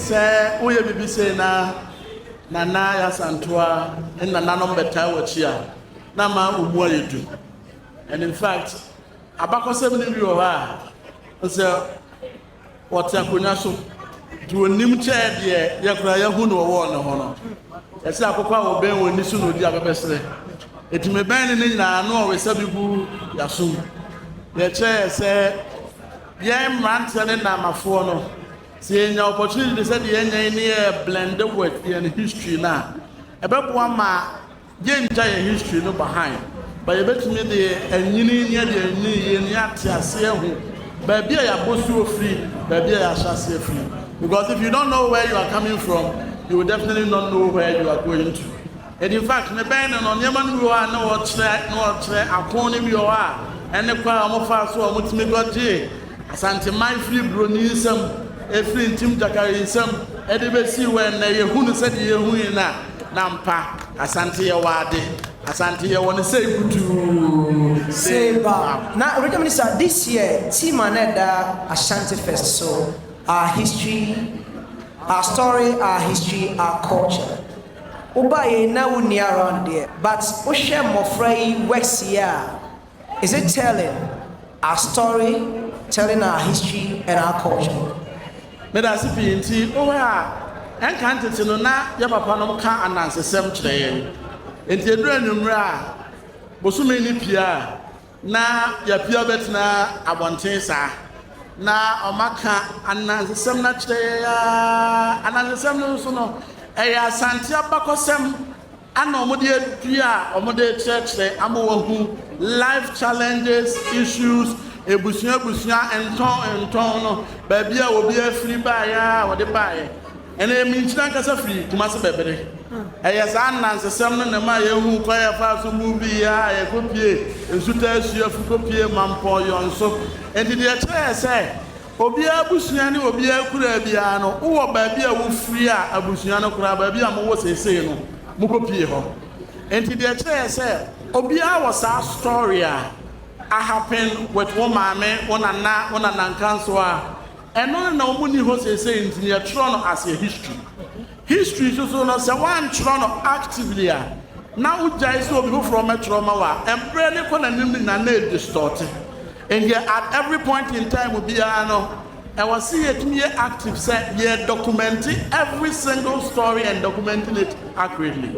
Sɛ woyɛ biribi sei na Nana Yasantoa ne nananom bɛtaa w'akyi a, na ama wo mu ayɛ du. And in fact, abakɔsɛm no bi wɔ hɔ a, sɛ wɔte akonnwa so nti wɔnim kyɛɛ deɛ yɛkora yɛahu no wɔwɔɔ ne ho no. Ɛsɛ akokɔ a wɔbɛn wɔn ani so na ɔdi abɛbɛserɛ. Ɛti mebɛn ne ne nyinaa no ɔwesa bi gu yɛasom. Yɛkyerɛ yɛ sɛ yɛn mmeranteɛ ne nnamafoɔ no, Sɛ yɛnya opportunity te sɛ deɛ yɛanya yi ne yɛ blend with yɛn history no a, ɛbɛboa ma yɛntwa yɛn history no behind but yɛbɛtumi de anyini ne yɛde anyini yie no yɛate aseɛ ahu baabi a yɛabɔsuo firi, baabi a yɛahyɛ aseɛ firi because if you don't know where you are coming from, you will definitely not know where you are going to. And in fact mebɛn no no nneɛma no bi wɔ hɔ a na ɔkyerɛ na ɔkyerɛ akon no bi wɔ hɔ a ɛne kwan a wɔn faa so a wɔn tumi kɔ gyee Asanteman firi broni nsam ɛfiri Ntim Gyakari nsam ɛde bɛsii wɔ ɛnnɛ yɛhu no sɛdeɛ yɛhu yi no a na ampa Asante yɛwɔ ade Asante yɛwɔ no sei kutuu sei ba na Radio Minister this year team a na ɛda Ashanti Fest so our history our story our history our culture. Wobaeɛ na wonni around deɛ but wohwɛ mmɔfra yi works yi a is it telling our story, telling our history and our culture. Medase pii nti wohwɛ a ɛnka ntete no na yɛ papa nom ka anansesɛm kyerɛ yɛn nti ɛduru anwumerɛ a bosome no pie a, Na yɛapue abɛtena abɔnten saa, na wɔaka anansesɛm no akyerɛ yɛn ara. Anansesɛm no nso no, ɛyɛ Asante abakɔsɛm na wɔde adua a wɔde rekyerɛkyerɛ ama wɔahu life challenges, issues, abusua abusua, ntɔn ntɔn no, baabi a obiara firi baeɛ a wɔde baeɛ. Ɛnna emi nkyene ankasa firii Kumasi bɛbere. Ɛyɛ saa anansesɛm no na ɛmaa yɛhuu kwan a yɛfaa so buu bi yɛɛ a yɛkɔpuee nsutaa asua fi kɔpuee Mampɔn Yɔn so. Enti deɛ ɛkyerɛɛ sɛ obiara abusua ne obiara akuraa biara no, wowɔ baabi a wofiri a abusua no koraa baabi a mowɔ seesei no mokɔpuee hɔ. Enti deɛ ɛkyerɛɛ sɛ obiara wɔ saa story a ahappen with wo maame, wo nana, wo nanankansowa, Ɛno no na ɔmo nni hɔ seesei nti no yɛtwerɛ no as yɛ history. History nso so no sɛ woantwerɛ no actively a na wogyae sɛ obi foforɔ mmɛtwerɛ mma wo a, mberɛ no kɔ n'anim no nyinaa na ɛdistɔɔte. Nti at every point in time biara no ɛwɔ se yɛtumi yɛ active sɛ yɛ dɔkumɛnte every single story and documenting it accurately.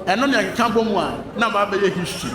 Ɛno na ɛkeka bɔ mu a na aba abɛyɛ history.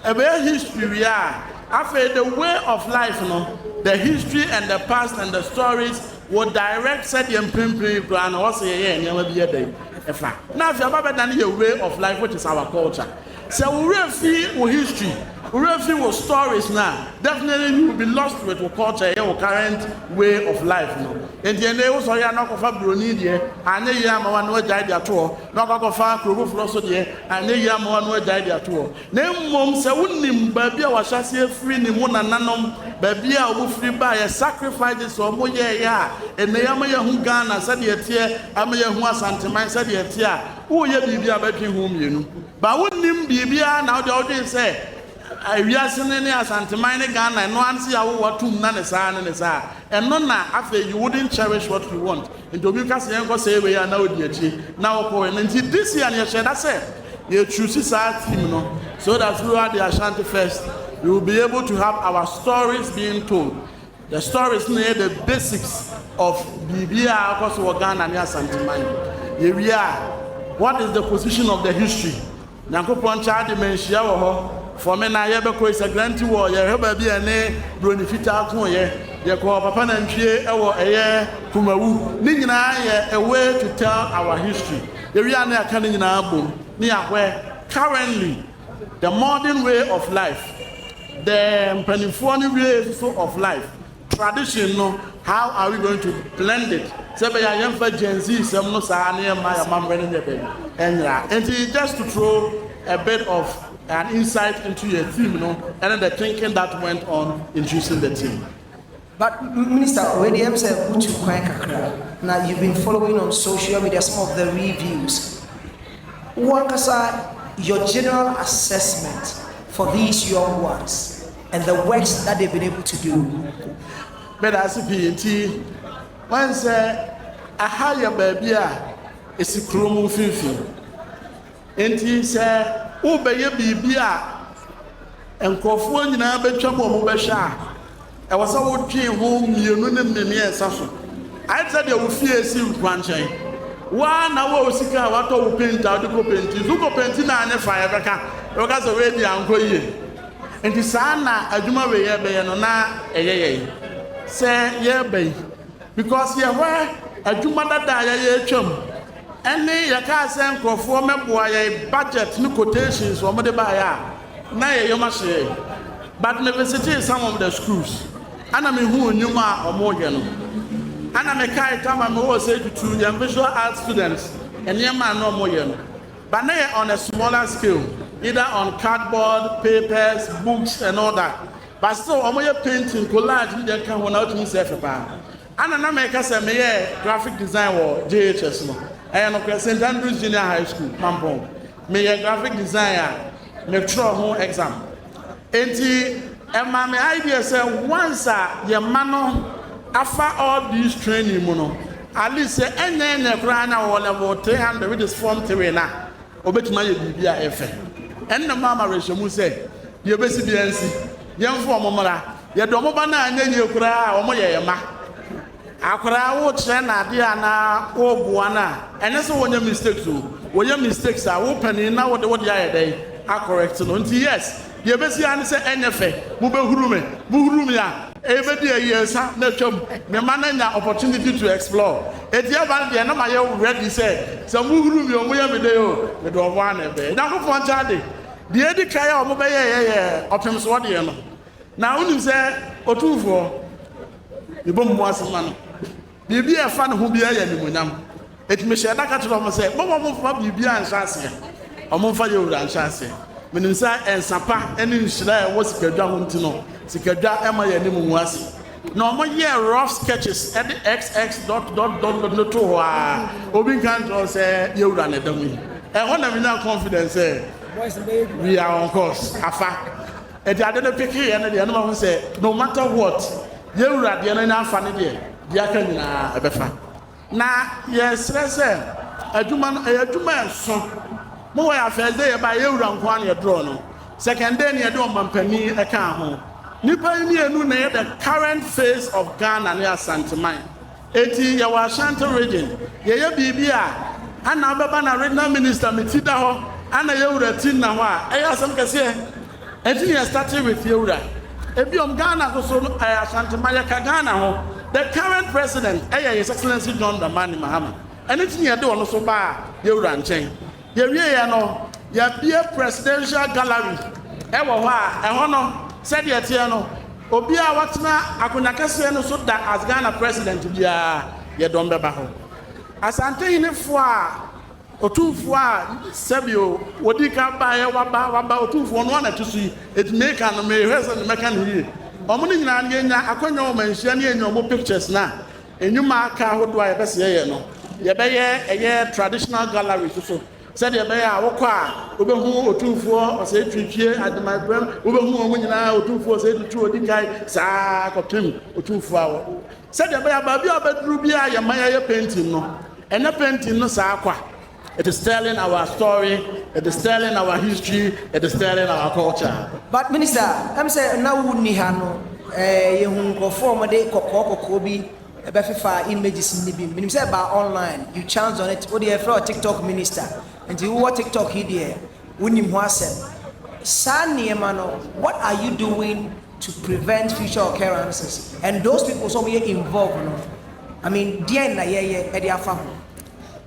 Ɛbɛyɛ history wie a, afei the way of life no, the history and the past and the stories will direct sɛdeɛ mprempren yi koraa no ɔsɛ yɛyɛ yɛn nneɛma bi yɛ dɛn ɛfa. Na afei aba bɛdane yɛ way of life which is our culture. Sɛ wo werɛ fi wo history, wo werɛ fi wo stories no a, definitely you will be lost with wo culture, ɛyɛ wo current way of life no. Enti ɛnɛ wo sɔre a na ɔkɔfa buroni deɛ, anyɛ yie ama wo a na wagyae de ato hɔ, na ɔkɔ akɔfa kuro foforɔ so deɛ, anyɛ yie ama wo a na wagyae de ato hɔ. Na mmom sɛ wonim baabi a wɔahyɛ ase afiri ne mo nananom baabi a wɔn firi baeɛ sacrifices a wɔn yɛeɛ a ɛnɛ yi ama yɛahu Ghana sɛdeɛ ɛteɛ ama yɛahu Asanteman sɛdeɛ ɛteɛ a woreyɛ biribi a bɛtwe ho mmienu but wonnim biribiara na wodeɛ wodwen sɛ wiase no ne Asanteman ne Ghana ɛno ara ne sɛ yɛawo wo atom na ne saa ne ne saa Ɛno na afei you wouldn't cherish what you want nti obi ka sɛ yɛnkɔ sɛe wei a na wodi akyire na wokɔ wei no nti this year no yɛhyɛɛ da sɛ yɛ choose saa theme no so that we are the Ashanti first we will be able to have our stories being told the stories no na ɛyɛ the basics of biribi a akɔ so wɔ Ghana ne Asanteman yɛwie a what is the position of the history Nyankopɔn kyɛ ade ma nhyia wɔ hɔ fɔ me na yɛ bɛ kɔ Isagranti wɔ yɛ hwɛ baabi a ɛne broni fitaa koo yɛ yɛ kɔ papa nantwie ɛwɔ ɛyɛ kumawu ne nyinaa yɛ a way to tell our history yɛ wie a ne yɛ ka ne nyinaa bom ne yɛ ahwɛ currently the modern way of life the mpaninfoɔ no way nso of life. Tradition no how are we going to blend it sɛ ɛbɛyɛ a yɛmfa Gen Z sɛm no saa na yɛmma yɛn amammerɛ no nyɛ dɛn? Ɛnyera. Enti just to throw a bit of an insight into yɛn theme no ɛne the thinking that went on in choosing the theme. But Minister, wei deɛ ɛm sɛ wotu kwan kakra na you've been following on social media some of the reviews. Wo ankasa your general assessment for these young ones. and the works that they've been able to do. Meda ase pii nti wɔn sɛ aha yɛ baabi a esi kurom mfimfini nti sɛ wobɛyɛ biribi a nkurɔfoɔ nyinaa bɛtwam wɔn bɛhwɛ a ɛwɔ sɛ wodwen ho mmienu ne mmiɛnsa so ayɛ sɛ deɛ wo fie si nkwankyɛn waa na wo sika a watɔ wo penti a wode kɔ penti so kɔ penti na anyɛ fa yɛbɛka yɛbɛka sɛ woadi ankɔ yie Enti saa na adwuma wei yɛbɛyɛ no na ɛyɛ yɛn sɛ yɛreba yi because yɛhwɛ adwuma dada a yɛyɛ atwam ɛne yɛkaa sɛ nkurɔfoɔ mmɛboa yɛn budget ne quotations wɔn de baeɛ a na yɛyɛ wɔn ahyɛ yɛn but me visitee some of the schools ana me hu nnwuma a wɔn yɛ no ana me kae tama me wɔ sɛ tutu yɛn visual art students nneɛma a na wɔn yɛ no But na yɛ on a smaller scale either on cardboard, papers, books and all that but still ɔmo yɛ painting, collage ne deɛ ɛka ho na wotumi sɛ ɛfɛ paa. Ana na mɛka sɛ meyɛɛ graphic design wɔ JHS no? Ɛyɛ nokorɛ, Saint Andrews Junior High School, Pampong, meyɛ graphic design a metwerɛ ho exam. Enti ɛma me idea sɛ once a yɛn mma no afa all these training mu no, at least sɛ ɛnyɛ ɛnnɛ koraa na ɔwɔ level 300 which is form 3 no a, ɔbɛtumi ayɛ biribi a ɛfɛ. Ɛno na maa m'awerɛhyɛmu sɛ deɛ ɛbɛsi biara nsi, yɛmfa wɔn mmra. Yɛde wɔn ba no a anyɛ yie koraa a, wɔyɛ yɛn mma. Akwadaa a wokyerɛ no adeɛ anaa woboa no a, ɛnyɛ sɛ wɔnyɛ mistakes o. Wɔyɛ mistakes a, wo panin na wode wode ayɛ dɛn? Akɔrɛkte no. Nti yes, deɛ ɛbɛsi ara ne sɛ ɛnyɛ fɛ, mobɛhuru me. Mohuru me a, ɛbɛdi ayiɛnsa na atwam. Mema no anya opportunity to explore. Enti ɛba no deɛ na mayɛ ready sɛ, sɛ mohuru me o, moyɛ me dɛn o, mede wɔn ara na ɛbɛyɛ. Onyankopɔn nkyɛn ade, deɛ ɛdi kan a wɔbɛyɛeɛ yɛ ɔpemsoɔ deɛ no. Na wonim sɛ, Otumfoɔ. Yɛbɔ mu ase ma no. Biribi a ɛfa ne ho biara yɛ animuonyam. Enti mehyɛɛ da ka kyerɛɛ wɔn sɛ, Momma wɔmfa biribiara nhyɛ aseɛ. Wɔmfa yɛn wura nhyɛ aseɛ. Menim sɛ nsã pa ne nhyira a ɛwɔ sikadwa ho nti no, sikadwa mma yɛn anim ngu ase. Na wɔyɛɛ rough sketches de xx dot dot dot dot no too hɔ ara. Obi nka nkyerɛ wo sɛ yɛn wura na ɛda mu yi. Ɛhɔ na menyaa confidence sɛ we are on course. Afa. Ɛde ade no peke yɛn deɛ, na mahu sɛ no matter what, yɛn Wura deɛ no anya afa no deɛ, deɛ aka nyinaa ɛbɛfa. Na yɛsrɛ sɛ adwuma no, ɛyɛ adwuma a ɛso. Mo hɔ yɛ a first day yɛbaeɛ, yɛn Wura nko ara na yɛdrɔɔ no. Second day no yɛde Ɔmampanin ɛkaa ho. Nnipa yi mmienu na ɛyɛ the current face of Ghana ne Asanteman. Eti yɛwɔ Ashanti region yɛyɛ biribi a ana wobɛba na regional minister me ti da hɔ ana yɛwura ti nna hɔ a ɛyɛ asɛm kɛseɛ ɛnti na yɛ startee with yɛwura ebiom Ghana soso no ɛyɛ Ashanti ma yɛka Ghana ho the current president ɛyɛ his excellency John Dramani Mahama ɛno nti na yɛde ɔno so baa yɛwura nkyɛn. Yɛwieeɛ no, yɛabue Presidential Gallery wɔ hɔ a, ɛhɔ no, sɛdeɛ ɛteɛ no, obiara a watena akonnwa kɛseɛ no so da as Ghana President biara, yɛdɔm bɛba hɔ. Asantehenefoɔ a Otumfoɔ a sɛbio wɔdii kan baeɛ, waba, waba, Otumfoɔ, ɔno ara na ɛto so yi, enti meka no, mehwɛ sɛ mɛka no yie. Wɔn no nyinaa no, yɛnya akwanya wɔ manhyia no, yɛnya wɔn pictures no a, Nnwuma aka ahodoɔ a yɛpɛ sɛ yɛyɛ no, yɛbɛyɛ ɛyɛ traditional gallery so so sɛdeɛ ɛbɛyɛ a wokɔ a wobɛhu Otumfoɔ Osei Tuitue, Ademaeprem, wobɛhu wɔn nyinaa, Otumfoɔ Osei Tutu Odikan, saa ara kɔpem Otumfoɔ a wɔ. Sɛdeɛ ɛbɛyɛ a baabi a wobɛduru biara yɛmma yɛyɛ painting no, ɛnyɛ painting no saa kwa. It is telling our story, it is telling our history, it is telling our culture. But minister, ɛm sɛ na wo nni ha no, eh, yɛhu nkurɔfoɔ a wɔde kɔkɔɔ kɔkɔɔ bi ɛbɛfefa images no bi. Menim sɛ ɛbaa online, you chance on it. Wo deɛ yɛfrɛ wo TikTok minister, nti wowɔ TikTok yi deɛ wonim ho asɛm. Saa nneɛma no, what are you doing to prevent future occurrences? And those people nso a wɔyɛ involved no, I mean, deɛn na yɛyɛ ɛde afa ho?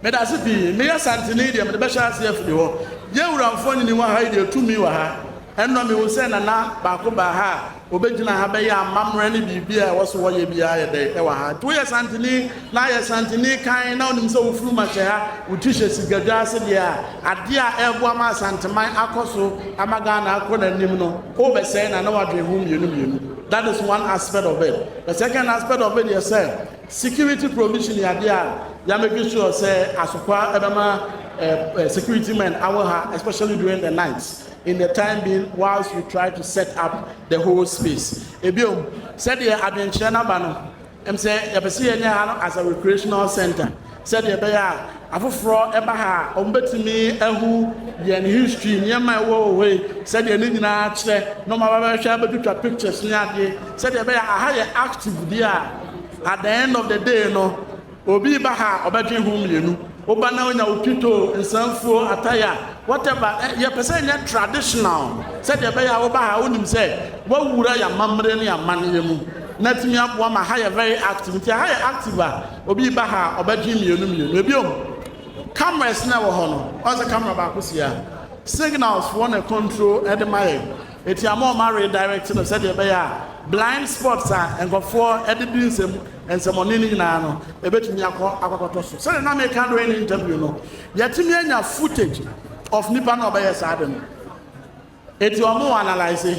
Meda ase pii. Meyɛ Santini deɛ mede bɛhyɛ aseɛ afiri hɔ. Yɛn wura mfonini wɔ ha yi deɛ tumi wɔ ha. Ɛnnɔ mehu sɛ Nana baako baa ha a ɔbɛgyina ha bɛyɛ amammerɛ ne biribiara a ɛwɔ sɛ wɔyɛ biara yɛ dɛ ɛwɔ ha. Nti woyɛ Santini na ayɛ Santini kann na wonim sɛ wo funum ahyɛ ha, wo ti hyɛ sigadwa ase deɛ a, adeɛ a ɛreboa ma Asanteman akɔ so ama Ghana akɔ n'anim no, worebɛsɛe Nana w'adwene ho mmienu mmienu. That is one aspect of it. The second aspect of it yɛ sɛ, Security provision yɛ adeɛ a ya make sure sɛ asokwaa ɛbɛma security men awɔ ha especially during the night in the time being whilst we try to set up the whole space. Ebiom, sɛdeɛ adwenkyerɛ no aba no, ɛm sɛ yɛpɛ sɛ yɛnya ha no as a recreational centre. Sɛdeɛ ɛbɛyɛ a afoforɔ ba ha a wɔbɛtumi ahu yɛn history, nneɛma a ɛwɔ wɔ hɔ yi, sɛdeɛ ne nyinaa kyerɛ, na wɔn aba bɛhwɛ abɛtwitwa pictures ne adeɛ. Sɛdeɛ ɛbɛyɛ a aha yɛ active deɛ a, at the end of the day no, obi ba ha a ɔbɛdwen ho mmienu. Woba na wonya wo pito, nsanfuo, ataya, whatever, ɛ, yɛpɛ sɛ ɛnyɛ traditional. Sɛdeɛ ɛbɛyɛ a woba ha a wonim sɛ woawura yɛn amammerɛ ne yɛn amanneɛ mu, na atumi aboa ma aha yɛ very active. Nti aha yɛ active a, Obi reba ha a, ɔbɛtwe mmienu mmienu. Ebio, cameras na ɛwɔ hɔ no, ɔyɛ sɛ camera baako si ha. Signals foɔ na ɛcontrol ɛde ma yɛn. Eti ama wɔn aredirect no sɛdeɛ ɛbɛyɛ a blind spots a nkorɔfoɔ ɛde di nsɛm nsɛmɔne no nyinaa no, ɛbɛtumi akɔ akɔkɔtɔ so. Sɛdeɛ na meka during ne interview no, yɛatumi anya footage of nipa no a ɔbɛyɛ saa ade no. Eti ɔmo analyse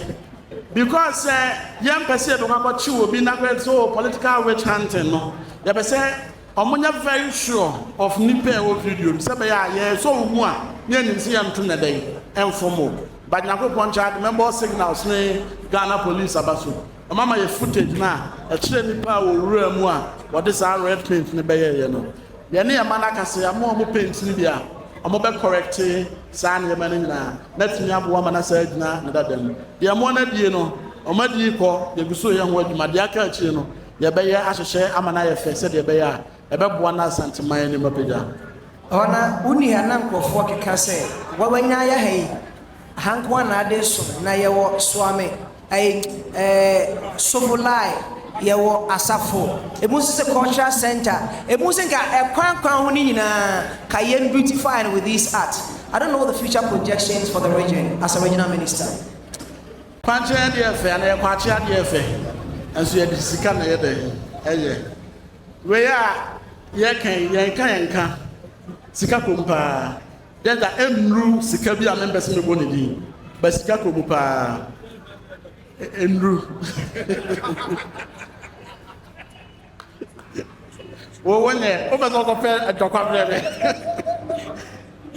because sɛ yɛn pɛ sɛ yɛbɛkɔ akɔ kyew obi na bɛ sɛ oh political witch hunting no yɛpɛ sɛ ɔmo nyɛ very sure of nipa a ɛwɔ video no sɛ bɛyɛ a yɛ sɔ wo mu a ne yɛ nim sɛ yɛ nto nɛ dɛn ɛnfo mo but nyankopɔn kyɛ ade mɛbɔ signals ne Ghana police aba so ɔmo ama yɛ footage no a ɛkyerɛ nipa a wɔ wura mu a wɔde saa red paint no bɛyɛ yɛ no yɛ ne yɛ ma no akasɛ ɔmo ɔmo paint no bi a ɔmo bɛ correct Saa nneɛma no nyinaa na atumi aboa ma n'asa agyina ne dada mu. Deɛ mmoa no adie no, wɔn adie kɔ, yɛgu so reyɛ ho adwuma. Deɛ aka akyire no, yɛbɛyɛ ahyehyɛ ama no ayɛ fɛ sɛdeɛ ɛbɛyɛ a, ɛbɛboa na Asanteman anim apagya. Ɛhɔ na wo nua na nkurɔfoɔ keka sɛ, Wawanya ayɛ ha yi? Aha nko ara na ade reso na yɛwɔ, soa me. Ɛɛ ɛɛ Sobolai yɛ wɔ asafo emu sese cultural center emu se nka ɛkwan kwan ho ne nyinaa ka yɛn beautify no with this art I don't know the future projections for the region as a regional minister. Kwankyɛn adeɛ yɛ fɛ anaa yɛ kwakye adeɛ yɛ fɛ nso yɛde sika na yɛ dɛn ɛyɛ wei a yɛka yi yɛnka yɛnka sika kom paa Dɛ da nnuru sika bi a mempɛ sɛ mebɔ ne din, but sika kɔ mu paa. E nnuru. Wo wo nɛ, wopɛ sɛ wokɔpɛ ntɔkwa brɛ me.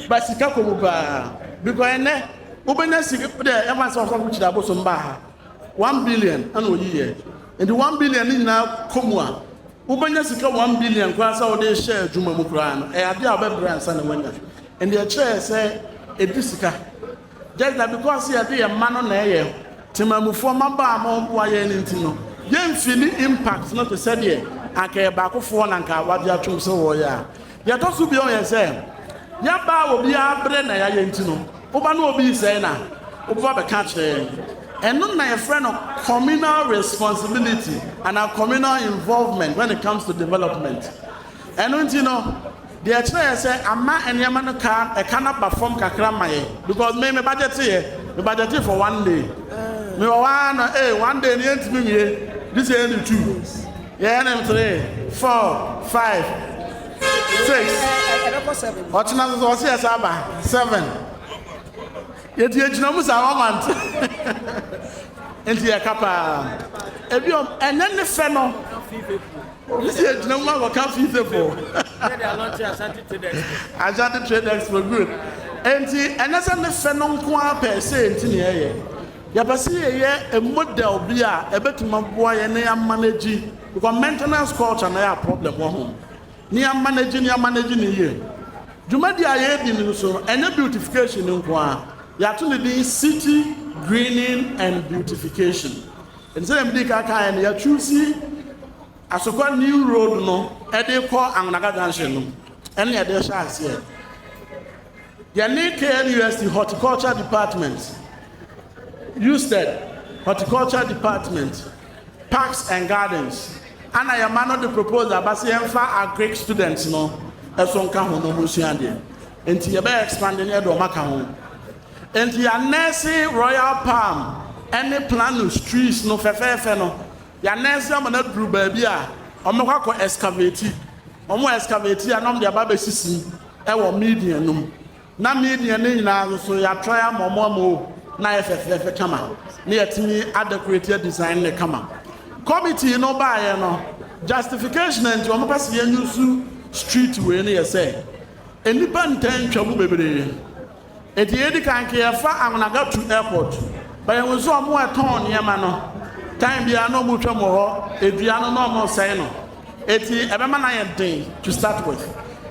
But sika kɔ mu paa. Because ɛnɛ, wobɛnya sika dɛ ɛma sɛ ɔsɔfo kyerɛ abosom baa ha. One billion ɛna ɔyiyɛ. Nti one billion ne nyinaa kɔ mu a, Wobɛnya sika one billion koraa sɛ wode rehyɛ adwuma mu koraa no, ɛyɛ adeɛ a wobɛbrɛ ansa na woanya. Ɛnde ɛkyerɛɛ sɛ ɛdi sika. Just that because yɛde yɛn mma no na ɛyɛ temanmufoɔ mmabaa ma wɔboa yɛn no nti no, yɛnfili impact no te sɛ deɛ anka ɛyɛ baakofoɔ na anka wɔagye atom sɛ wɔreyɛ a. Nea ɛtɔ so bio yɛ sɛ, yɛaba a obiara brɛ na yɛayɛ nti no, woba na obi resɛe no a, wobɛba abɛka akyerɛ yɛn. Ɛno na yɛfrɛ no communal responsibility anaa communal involvement when it comes to development. Ɛno nti no, deɛ ɛkyerɛ yɛ sɛ ama nneɛma no ka ɛka no aba fam kakra ma yɛn because me me budget yɛ me budget for one day. Mewɔ hɔ ara na ee one day no yɛntumi nwie this year ne two. Yɛyɛ no three, four, five, six, ɔkyena nso so ɔse yɛ saa ba seven. Yɛti yɛgyina mu saa wɔma nte nti yɛ ka paa. Ebi ɔm ɛnyɛ ne fɛ no. Obi si yɛgyina mu ma wɔka fii se po. Asante Trade Expo good. Enti ɛnyɛ sɛ ne fɛ no nko ara pɛɛ se nti ne yɛyɛ. Yɛpɛ sɛ yɛyɛ model bi a ɛbɛtumi aboa yɛn na yɛamanegyi, because maintenance culture na ɛyɛ a problem wɔ ho, na yɛamanegyi no yɛamanegyi no yie. Dwumadie a yɛredi no nso no, ɛnyɛ beautification nko ara, yɛato no din City Greening and Beautification. Ɛnti sɛdeɛ medii kan kaeɛ no, yɛachuusi Asokwa New Road no de rekɔ Angonaga Junction no na yɛde rehyɛ aseɛ. Yɛne KNUST Horticulture Department, USTED Horticulture Department, Parks and Gardens, ana yɛma no de proposal aba sɛ yɛmfa agric students no ɛso nka ho no mu nsua adeɛ. Nti yɛbɛyɛ expand ne ɛde ɔma ka ho. Nti yɛanɛɛse Royal Palm ɛne Planus trees no fɛfɛɛfɛ no Yɛanansi ama no aduru baabi a wɔbɛkɔ akɔ ɛskaveti. Wɔn ɛskaveti a na wɔde aba abɛsisi wɔ Midian no mu. Ná Midian no nyinaa nso yɛatrae ama wɔn ama o, na ayɛ fɛfɛɛfɛ kama, na yɛatumi adɛkoreti adisaen no kama. Kɔmitii no baeɛ no, justification a enti wɔpɛ sɛ yɛnyusu street wei no yɛ sɛ, nnipa ntaa ntwa mu bebree. Enti yɛdi kan nka yɛfa Anwonagatu airport ba yɛhu sɛ ɔmo a ɛtɔn nneɛma no time biara na ɔmo twam wɔ hɔ edua no na ɔmo sɛe no eti ɛbɛma no ayɛ den to start with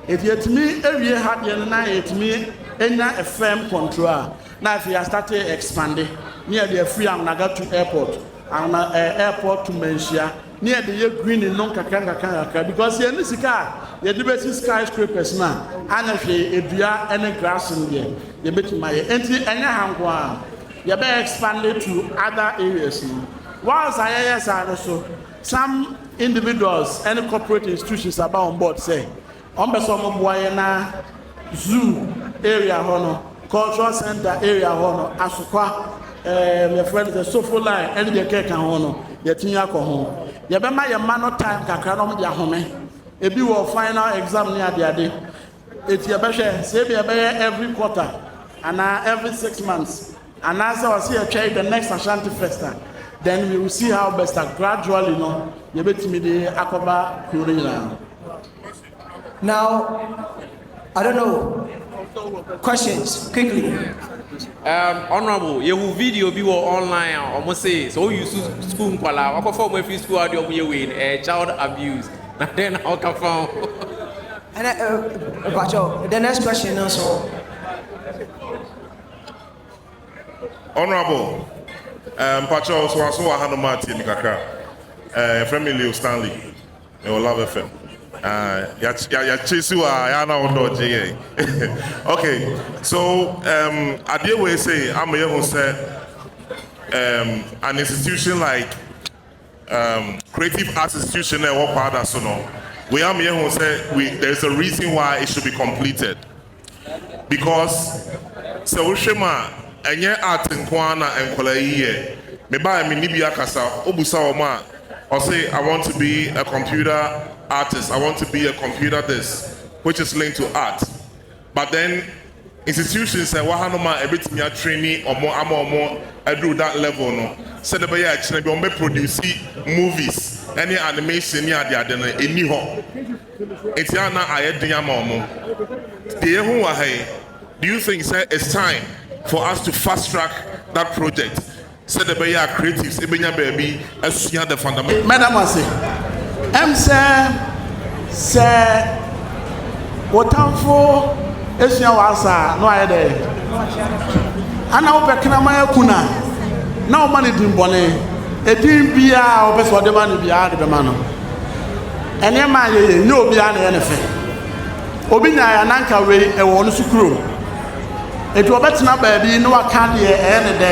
eti yɛtumi ewie ha deɛ no na yɛtumi enya a firm control a na afei yɛastate expande ne yɛde afiri Anwonagatu airport Anwona ɛɛ airport to Manhyia Ne yɛde yɛ greening no nkakra nkakra nkakra because yɛn ne sika a yɛde bɛsi sky scrapers no a anyɛ hwee edua ne grass no deɛ yɛbɛtumi ayɛ enti ɛnyɛ ha nko ara yɛbɛ expand it to other areas no whilst a yɛyɛ saa no so some individuals ne corporate institutions aba on board sɛ Wɔn pɛ sɛ wɔn boa yɛn na zoo area hɔ no cultural center area hɔ no asokwa ɛɛm yɛfrɛ no sɛ sofo line ɛne deɛ kɛka ho no yɛtumi akɔ ho yɛbɛma yɛn mma no time kakra na wɔn de ahome ebi wɔ final exam ne adeade eti yɛbɛhwɛ sɛ ebi ɛbɛyɛ every quarter anaa every six months anaasɛ wɔsi yɛtwɛn the next Ashanti festa then we will see how best gradually no yɛbɛtumi de akɔba kuro no nyinaa. Now, I don't know. Questions, quickly. Um, honorable, yehu video bi wɔ online a wɔn se sɛ wɔn use school nkwalaa wakɔfa wɔn afiri school a wɔde wɔn yɛ wei no ɛyɛ child abuse na dɛn na ɔka fa ho. ɛnna ɛbakyɛw the next question no nso. honorable mpakyɛw um, so aso wɔ ha no ma tie mi kakra ɛfrɛ uh, mi leo stanley. Me wɔ love fm ah ya ya ya chase wa ya na wo dodge yɛn okay so um adeɛ wei say ama yɛ ho sɛ um an institution like um creative arts institution na ɛwɔ kwaada so no wei ama yɛ ho sɛ we there is a reason why it should be completed. because sɛ wohwɛ mu a ɛnyɛ art nko ara na nkwadaa yi yɛ. Me ba a me ne bi akasa, wobisa wɔn a ɔse I want to be a computer artist, I want to be a computer this which is linked to art but then institutions a ɛwɔ hanom a ɛbɛtumi a traini wɔn ama wɔn aduru that level no sɛdeɛ ɛbɛyɛ a kyena bi wɔbɛ produce movies ɛne animation ne adeade no ɛnni hɔ. Enti a na ayɛ den ama wɔn. Deɛ yɛhu wɔ ha yi, do you think sɛ it's time for us to fast track that project sɛdeɛ ɛbɛyɛ a creatives bɛnya baabi asua the fundamental. Mɛda mo ase. Ɛm sɛ sɛ wo tamfo sua w'asa a na wayɛ dɛ? Ana wopɛ kraman aku no a na woma no din bɔne? Edin biara a wopɛ sɛ ɔde ma no biara wode bɛma no. Nneɛma a yɛyɛ, nyɛ obiara na ɛyɛ no fɛ. Obi nyae a, na anka wei ɛwɔ ɔno nso kurom. Enti ɔbɛtena baabi na waka deɛ ɛyɛ ne dɛ.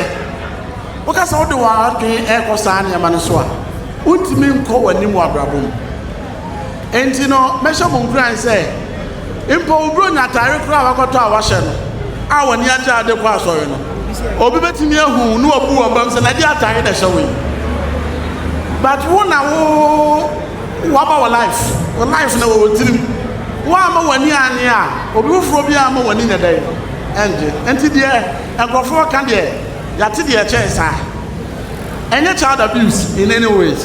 Woka sɛ wode w'adwene rekɔ saa nneɛma no so a, wontumi nkɔ w'anim wɔ abrabɔ mu. Enti no, mɛhyɛ mo nkuran sɛ, Mpo wo Buronya atare koraa a woakɔtɔ a woahyɛ no a w'ani agye ara de kɔ asɔre no, obi betumi ahu wo na wabu wo abam sɛ, 'Na ɛdeɛn atare na ɛhyɛ wo yi? But wo na wo waba wɔ life, wɔ life na wɔ wo tirim. Woamma w'ani annye a, obi foforɔ biara remma w'ani nyɛ dɛn? Ɛnngye. Enti deɛ nkurɔfoɔ ka deɛ, yɛate deɛ ɛkyɛn saa. Ɛnyɛ child abuse in any ways.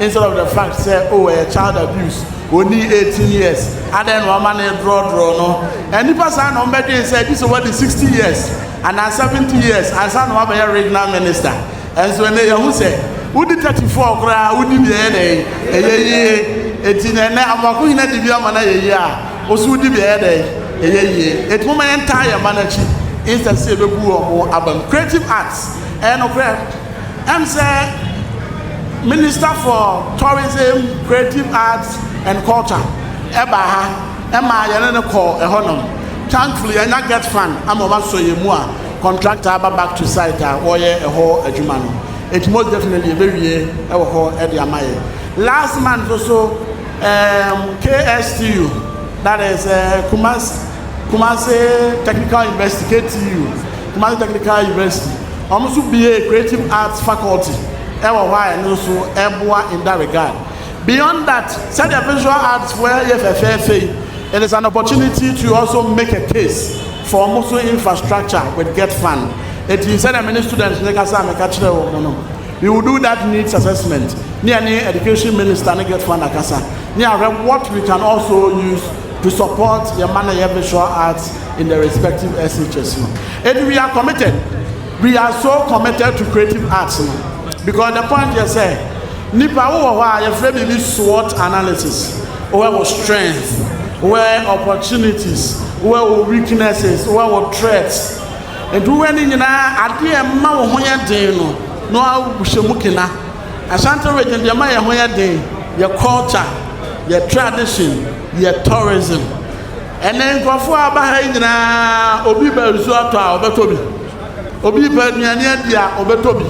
Instead of the fact sɛ oh ɛyɛ child abuse onii eighteen years adɛn na wama no drɔdrɔ no nnipa saa na wɔbɛdwen sɛ gye sɛ wadi sixty years anaa seventy years ansa na wabɛyɛ regional minister ɛnso ɛnɛ yɛhu sɛ wodi thirty four koraa wodi bi ɛyɛ dɛn ɛyɛ yie eti na ɛnɛ amoako nyina di bi ama no ayɛ yie a woso wodi bi ɛyɛ dɛn ɛyɛ yie eti mo ma yɛn taa yɛn ma no akyi instead sɛ yɛbɛbu wɔn abam creative arts ɛyɛ no korɛ. Ɛm sɛ Minister for Tourism, Creative Arts and Culture ɛbaa ha ɛmaa yɛne no kɔɔ ɛhɔ nom. Thankfully yɛanya get fund ama wɔn asɔ yɛn mu a contractor aba back to site a wɔreyɛ ɛhɔ adwuma no. Nti most definitely yɛbɛwie ɛwɔ hɔ ɛde ama yɛn. Last month nso ɛɛm KSTU that is ɛɛ Kumasi Kumasi Technical University, KTU, Kumasi Technical University, Wɔn nso buee Creative Arts Faculty wɔ hɔ a ɛno nso ɛboa in that regard. Beyond that, sɛdeɛ Visual Arts foɔ yɛ fɛfɛɛfɛ yi, it is an opportunity to also make a case for wɔn nso infrastructure with get fund. Enti sɛdeɛ me ne students no kasa a meka kyerɛɛ wɔn no, we will do that needs assessment ne yɛne Education Minister ne get fund akasa ne yɛahwɛ what we can also use to support yɛn mma no a ɛyɛ Visual Arts in their respective SHS no ɛdi we are committed we are so committed to creative arts no because the point yɛ sɛ nipa wo wɔ hɔ a yɛfrɛ biribi SWOT analysis wowɛ wɔ strength wowɛ opportunities wowɛ wɔ weaknesses wowɛ wɔ threats nti wowɛ ne nyinaa adeɛ ɛma wo ho yɛ den no na wahyɛ mu kena Ashanti region deɛ ɛma yɛ ho yɛ den yɛ culture yɛ tradition yɛ tourism Ɛnnɛ nkurɔfoɔ a wɔaba ha yi nyinaa, obi repɛ nsuo atɔ a, ɔbɛtɔ bi. Obi repɛ aduane adi a, ɔbɛtɔ bi.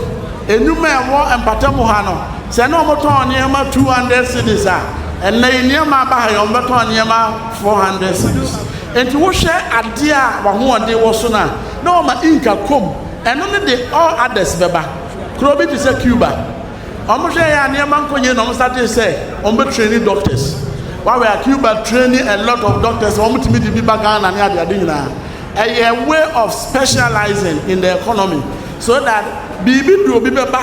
Nnwuma a ɛwɔ mpatamu ha no, sɛ na wɔtɔn nneɛma two hundred cedis a, ɛnnɛ yi nneɛma a aba ha yi, wɔbɛtɔn nneɛma four hundred cedis. Enti wohwɛ adeɛ a w'ahoɔden wɔ so no a, na wɔma ink akɔ mu. Ɛno ne de all others bɛba. Kuro bi te sɛ Cuba. Wɔn hwɛ yɛ a nneɛma nkɔ yie na wɔn startee sɛ wɔn bɛ traini doctors. Wawɛ a Cuba traini a lot of doctors a wɔn tumi de bi ba Ghana ne adeade nyinaa. Ɛyɛ way of specializing in the economy so that biribi de obi bɛba,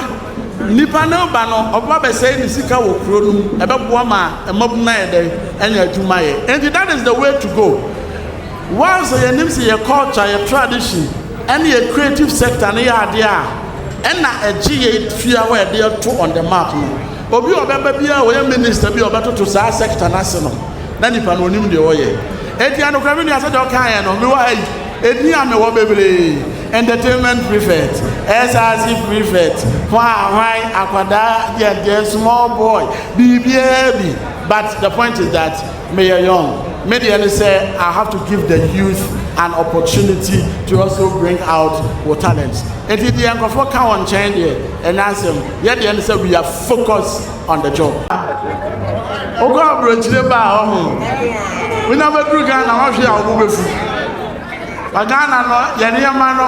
nipa no reba no ɔbɛba bɛsɛe ne sika wɔ kuro no mu, ɛbɛboa ma mmabunu ayɛ dɛn anya adwuma yɛ. Enti that is the way to go. Whilst yɛnim sɛ yɛ culture, yɛ tradition ɛne yɛ creative sector no yɛ adeɛ a, Ɛna ɛgye yei tua hɔ a ɛde ɛto on the map no. Obi a ɔbɛba biara ɔyɛ minister bi a ɔbɛtoto saa sector no ase no, na nipa no onim deɛ ɔyɛ. Eti anokora me nua sɛdeɛ ɔkaeɛ no, mewɔ ha yi, edin a mewɔ bebree, entertainment prefect, SRC prefect, hwan hwan, akwadaa deɛ deɛ, small boy, biribiara bi. But the point is that Meyɛ young, me deɛ ne sɛ I have to give the youth an opportunity to also bring out wo talent. Nti deɛ nkurɔfoɔ ka wɔ nkyɛn deɛ ɛnyɛ asɛm, yɛ deɛ ne sɛ we are focus on the job. Wokɔ aburokyire ba a ɔho, wonya bɛduru Ghana wɔhwe a wɔn bɛfu. Ba Ghana no yɛ nneɛma no.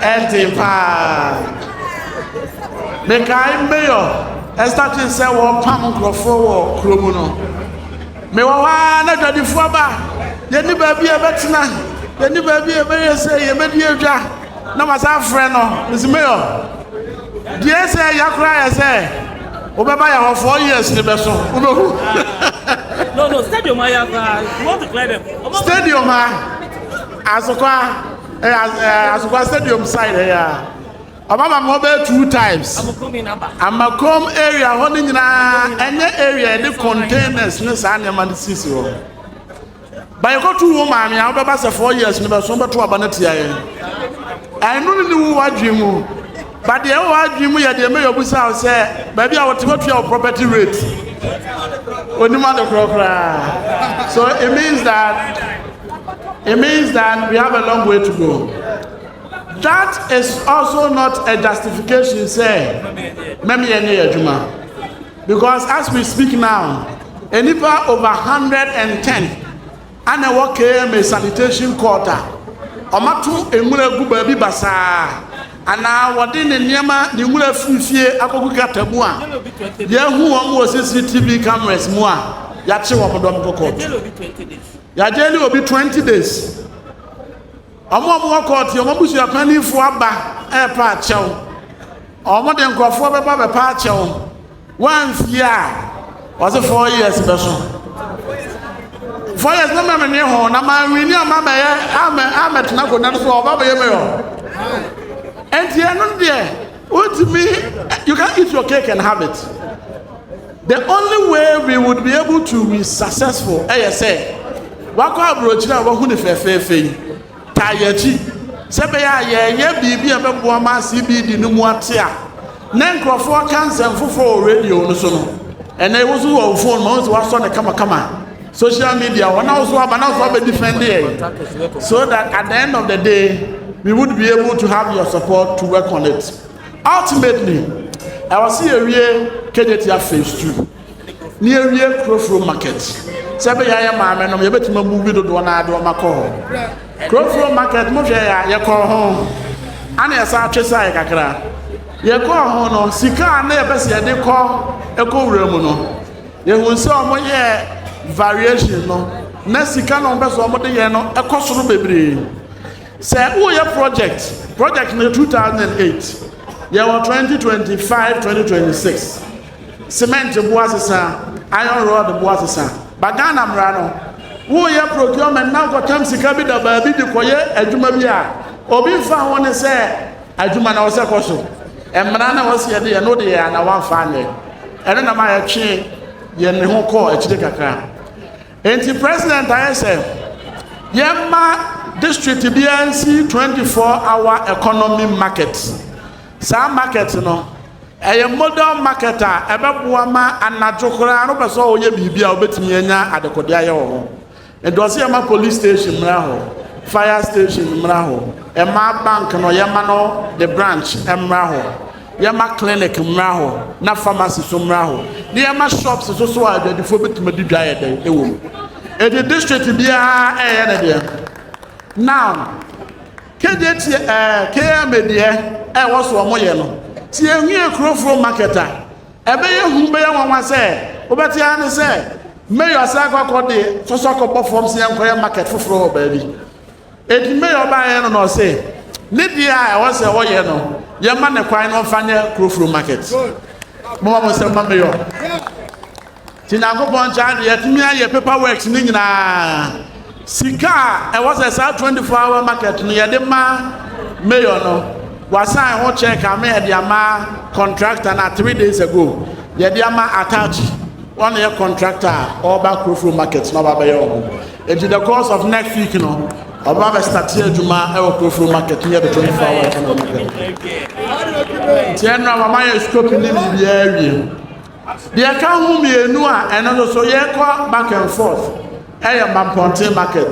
Ɛte paa. Mekae mayor ɛstate sɛ wɔpam nkurɔfoɔ wɔ kuro mu no. Mewɔ hɔ ara na adwadifoɔ ba. Yɛni baabi a yɛbɛtena. Yɛni baabi a yɛbɛyɛ sɛ yɛbɛdi adwa. Na masa afrɛ no. Mesi mayor. Deɛ ɛsɛ ɛya koraa yɛ sɛ wobɛba yɛ hɔ four years ne bɛso. Wobɛhu. No, no, stadium ayɛ koraa. You want to clear them. Stadium a. Asokwa eh, as, eh, Asokwa Stadium side eh, ya. Ọba ma mo bɛyɛ two times. Amakom area hɔ ne nyinaa ɛnyɛ area yɛde containers ne saa nneɛma no sisi hɔ. Bayɛkɔtu wo maame a wobɛba sɛ four years no bɛso wobɛto aba no tia yɛn. Ɛno ne ne wu wadwe mu. But deɛ ɛwɔ adwene mu yɛ deɛ mɛyɛ obusa wo sɛ baabi a wɔte wɔtua wo property rate onim ade korɔ koraa so it means that it means that we have a long way to go that is also not a justification sɛ mɛmeyɛ ne yɛ adwuma because as we speak now nnipa over 110 Ana ɛwɔ KMA sanitation court a wɔato nwura agu baabi basaa anaa wɔde ne nneɛma, ne nwura afiri fie akɔgu gutter mu a yɛahu wɔn wɔ CCTV cameras mu a, yɛakye wɔn dɔm kɔ kɔɔto. Yɛagyɛɛle obi 20 days. Wɔn a wɔwɔ kɔɔto yi, wɔn abusua panimfoɔ aba repa akyɛw. Wɔde nkurɔfoɔ bɛba abɛpa akyɛw. Wɔamfie a, wɔse four years bɛso. Four years na mmerɛ menwe ho na manwini a mabɛyɛ amɛtena akonnwa no so a ɔba bɛyɛ meyɔ. Ɛnti ɛno deɛ, wontumi, you can't eat your cake and have it. The only way we would be able to be successful ɛyɛ sɛ wakɔ aburokyire a wahu ne fɛfɛɛfɛ yi taa yɛ akyi sɛ bɛyɛ a yɛyɛ biribi a bɛboa ma CBD no mu ate a na nkurɔfoɔ ka nsɛm foforɔ wɔ radio no so no ɛnɛ wo so wɔ wo phone ma wo sɛ wasɔ ne kamakama social media wɔn a wo so aba na wo so abɛdi fɛndeɛ so that at the end of the day we would be able to have your support to work on it. Ultimately, ɛwɔ sɛ yɛwie Kejetia Phase Two na yɛwie Kurofuro Market. Sɛ ɛbɛyɛ a yɛ maame nom yɛbɛtumi amuvi dodoɔ no ara de wɔn akɔ hɔ. Kurofuro Market mo hwɛ yɛ a yɛkɔɔ ho ana yɛsan twe sae kakra. Yɛkɔɔ ho no sika a na yɛpɛ sɛ yɛde kɔ ɛkɔ wura mu no yɛhu sɛ wɔn yɛ variation no na sika na wɔn pɛ sɛ wɔn de yɛ no ɛkɔ soro bebree. Sɛ woyɛ project, project no yɛ two thousand and eight, yɛ wɔ twenty twenty five, twenty twenty six, cement boa sesa, iron rod boa sesa, ba Ghana mmara no, woyɛ procurement na kɔtam sika bi da baabi de kɔyɛ adwuma bi a, obi nfa ho ne sɛ adwuma na ɔsɛ kɔ so. Mmara na wɔsi yɛ de yɛ no de yɛ ana wɔnfa anyɛ. Ɛno na ma yɛtwe yɛn ne ho kɔɔ akyire kakra. Enti President ayɛ sɛ yɛmma district biara nsi 24 hour economy market. Saa market no ɛyɛ model market a ɛbɛboa ma anadwo koraa no pɛ sɛ ɔyɛ biribi a wobɛtumi anya adekode ayɛ wɔ hɔ. Nti ɔsɛ yɛma police station mmra hɔ, fire station mmra hɔ, ɛmaa bank no yɛma no ne branch mmra hɔ. Yɛma clinic mmra hɔ na pharmacy nso mmra hɔ na yɛma shops nso so a adwadifoɔ bɛtumi de dwa yɛ dɛn ɛwɔ mu. Ɛde district biara ɛyɛ ne deɛ. Now, kɛdeɛ tie ɛɛ KMA deɛ ɛwɔ so wɔn yɛ no. Ti ehwie kurofuro market a ɛbɛyɛ hu bɛyɛ nwanwa sɛ wobɛte ara ne sɛ mayor sɛ akɔ akɔ de sɔsɔ akɔbɔ fam sɛ yɛnkɔyɛ market foforɔ wɔ baabi. Edi May ɔbaeɛ no na ɔse ne deɛ a ɛwɔ sɛ ɔyɛ no yɛma ne kwan na ɔmfa nyɛ kurofuro market. Moma mo nsɛm ma Mayor. Nti Nyankopɔn nkyɛn ade yɛtumi ayɛ paper works ne nyinaa. Sika a ɛwɔ sɛ saa 24 hour market no yɛde ma Mayor no wasan ho check ama yɛde ama contractor na three days ago yɛde ama Atachi ɔne yɛ contractor a ɔba kurofuro market na ɔba bɛyɛ ɔmo. Edi the course of next week no, ɔba bɛ starte adwuma ɛwɔ Kurofuro market near the 24 hour economic hub. Nti ɛno a wama yɛ scope ne biribiara awie. Deɛ ɛka ho mmienu a ɛno nso so yɛkɔ back and forth ɛyɛ Mampɔnten market.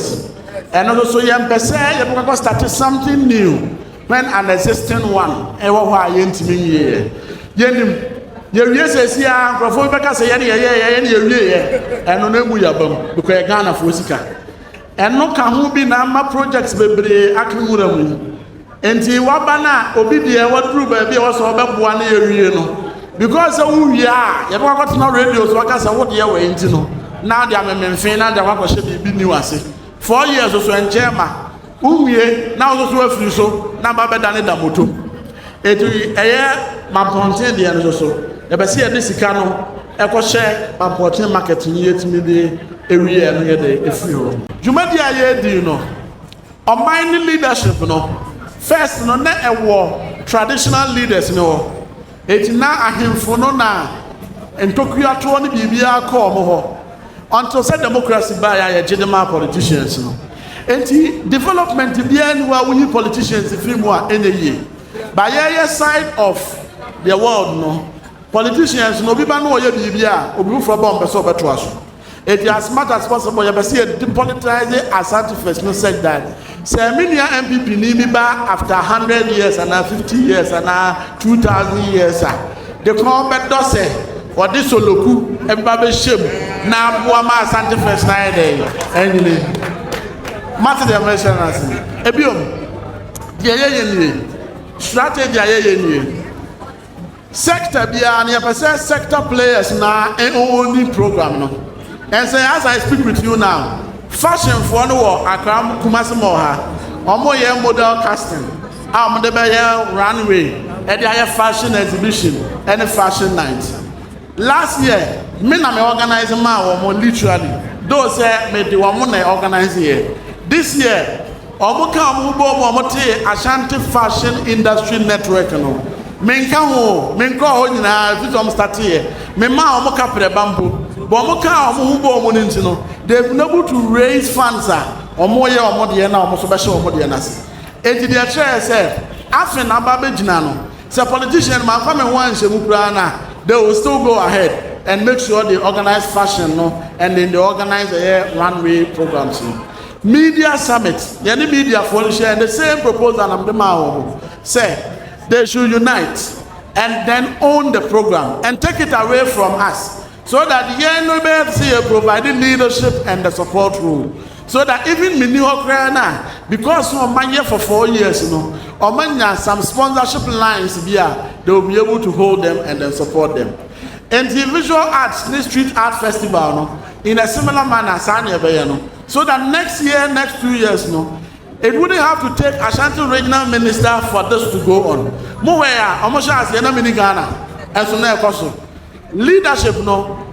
Ɛno nso so yɛmpɛ sɛ yɛbɛkɔ starte something new. When an existing one ɛwɔ hɔ a yɛntumi nwieɛ. Yɛnim, yɛwie sɛsi a nkurɔfoɔ bi bɛka sɛ yɛne yɛyɛɛyɛ yɛne yɛwieɛ. Ɛno no ɛmu yaba mu because yɛ Ghanafoɔ sika. Ɛno ka ho bi na ama projects bebree aka nwura mu yi. Nti waba no a obi deɛ waduru baabi a wɔsɛ ɔbɛboa ne yɛwie no. Because sɛ wowie a yɛbɛkɔ akɔtena radio so aka sɛ wodeɛ wɔ nti no na de amemenfe na de akɔhyɛ biribi new ase. Four years so ɛnkyɛn ma. Wowie na wososo afiri so na ba bɛdane da moto. Eti ɛyɛ mampɔnten deɛ no soso. Yɛpɛ sɛ yɛde sika no ɛkɔhyɛ mampɔnten market no yɛtumi de ewie ɛno yɛde efiri hɔ. Dwumadie a yɛredi no ɔman ne leadership no first no na ɛwɔ traditional leaders no hɔ. Enti na ahemfo no na ntokuatoɔ ne biribiara kɔ wɔn hɔ until sɛ democracy baeɛ a yɛgye de maa politicians no. Enti development biara nni hɔ a woyi politicians firi mu a ɛnyɛ yie. But yɛyɛ side of the world no, politicians no obi ba na ɔyɛ biribi a obi foforɔ ba ɔmpɛ sɛ ɔbɛtoa so. Eti as much as possible yɛpɛ sɛ yɛ depolitise Asante first no such that sɛ me nua NPP ni bi ba after hundred years anaa fifty years anaa two thousand years a de kɔn bɛdɔ sɛ ɔde Soloku ɛbɛba bɛhyɛ mu na aboa ma Asante first no ayɛ dɛn anyini. Mate deɛ mehyɛ no ase no. Ebiom, deɛ yɛyɛ nie, strategy a yɛyɛ nie. Sector biara no yɛpɛ sɛ sector players na ɔɔni program no and sɛ as I speak with you now fashion foɔ no wɔ Accra Kumasi mall ha ɔmo yɛ model casting a ɔmo de bɛyɛ runway ɛde ayɛ fashion exhibition ɛne fashion night. Last year me na me organise maa wɔn literally though sɛ me de wɔn na organise yɛ. This year wɔn ka wɔn ho bɔɔ mu wɔn tee Ashanti Fashion Industry Network no. Me nka ho o, me nkɔɔ hɔ nyinaa ɛfiri sɛ wɔn starte yɛ. Me maa wɔn kaprɛba mpo. But wɔn kaa wɔn ho bɔɔ mu no nti no they have been able to raise funds a wɔn yɛ wɔn deɛ na wɔn nso bɛhyɛ wɔn deɛ no ase. Enti deɛ ɛkyerɛ yɛ sɛ afe na aba abɛgyina no Sɛ politician mamfa me ho anhyɛ mu koraa no a, they will still go ahead and make sure they organise fashion no and then they organise ɛyɛ one way programs no. Media summit, yɛne media foɔ no hyɛɛ the same proposal na mede maa wɔn sɛ they should unite and then own the program and take it away from us. so that yɛn no bɛyɛ te sɛ yɛ provide leadership and the support role so that even menni hɔ koraa no a because no ɔma yɛ for four years no ɔma nya some sponsorship lines bi a they will be able to hold them and then support them nti visual arts ne street art festival no in a similar manner saa na ɛbɛyɛ no so that next year next two years no it wouldn't have to take Ashanti regional minister for this to go on mo wɛ a ɔmo hyɛ aseɛ na mini Ghana ɛnso na ɛkɔ so. Leadership no,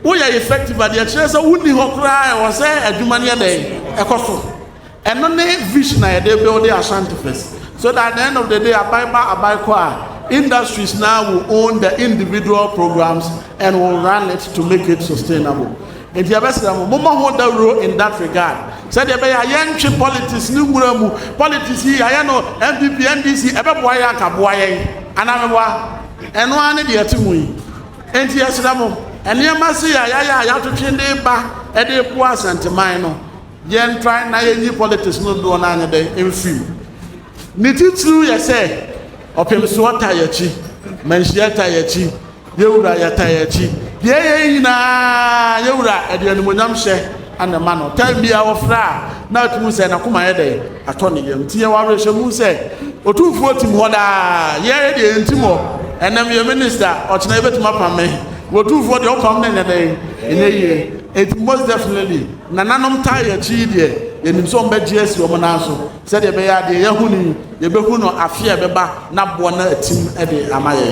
woyɛ effective a, deɛ ɛkyerɛ sɛ wonni hɔ koraa a ɛwɔ sɛ adwuma no yɛ dɛn? Ɛkɔ so. Ɛno ne vision a yɛde build Ashanti Fest. So that at the end of the day, aban ba aban kɔ a, industries no ara will own the individual programs and will run it to make it sustainable. Nti yɛbɛsrɛ mo, mommɔ ho dawuro in that regard. Sɛdeɛ ɛbɛyɛ a yɛntwe politics no nwura mu. Politics yi, yɛayɛ no NPP, NDC, ɛbɛboa yɛn anka? Boa yɛn anaa meboa? Ɛno ara ne deɛ ɛte ho yi. Enti yɛsrɛ mo, nneɛma sei a yɛayɛ a yɛatwetwe de reba de reboa Asanteman no, yɛn try na yɛnyi politics no dodoɔ no ara nyɛ dɛn mfiri mu. Ne titiriw yɛ sɛ, Ɔpemsoɔ ta yɛn akyi, Manhyia ta yɛn akyi, Yɛwura yɛta yɛn akyi. Deɛ ɛyɛ yi nyinaa Yɛwura ɛde animuonyam hyɛ na ɛma no. Time biara wɔfrɛ a na atumu sɛ n'akoma yɛ dɛn? atɔ ne yam. Nti yɛwɔ awerɛhyɛmu sɛ Otumfoɔ tim hɔ daa. Yɛɛ deɛ yɛntim hɔ. Ɛnɛ meyɛ minista, ɔkyena yɛbɛtumi apam me. Otumfoɔ deɛ ɔpam no nyɛ dɛn? Ɛnyɛ yie. Nti most definitely nananom taa yɛ akyi yi deɛ yɛnim sɛ wɔbɛgye asi wɔn nan so sɛdeɛ ɛbɛyɛ a deɛ yɛahu no yi yɛbɛhu no afe a ɛbɛba na boɔ no atim de ama yɛn.